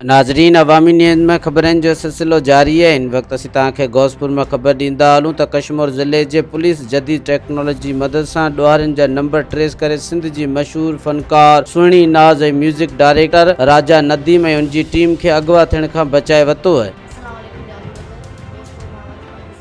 ناظرين عوامي نيوز ۾ خبرن جو سلسلو جاري آهي هن وقت اسين توهان کي غوثپور مان خبر ڏيندا هلون ته ڪشمور ضلعي جي پوليس جديد ٽيڪنالاجي جي مدد سان ڏوهارين جا نمبر ٽريس ڪري سنڌ جي مشهور فنڪار سهڻي ناز ۽ ميوزڪ ڊائريڪٽر راجا نديم ۽ ان جي ٽيم کي اغوا ٿيڻ کان بچائي ورتو آهي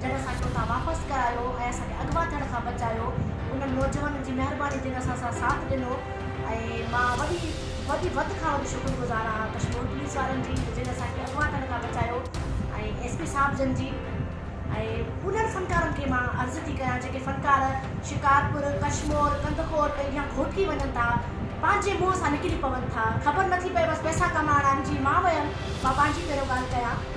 جن اسان کي اتان واپس ڪرايو ۽ اسان کي اغوا ٿيڻ کان بچايو انهن نوجوانن جي مهرباني جن اسان سان ساٿ ڏنو ۽ مان وڏي وڏي وڌ کان وڌ شڪر گذار آهان ڪشمور پوليس وارن جي جن اسان کي اغوا ٿيڻ کان بچايو ۽ ايس پي صاحب جن جي ۽ انهن فنڪارن کي مان عرض ٿي ڪيان جيڪي فنڪار شڪارپور ڪشمور ڪنڌڪوٽ اڳيان گهوٽڪي وڃن ٿا پنهنجي منهن سان نڪري پون ٿا خبر نٿي پئي بس پئسا ڪمائڻا آهن جي مان ويم مان پنهنجي پهريون ڳالهه ڪيان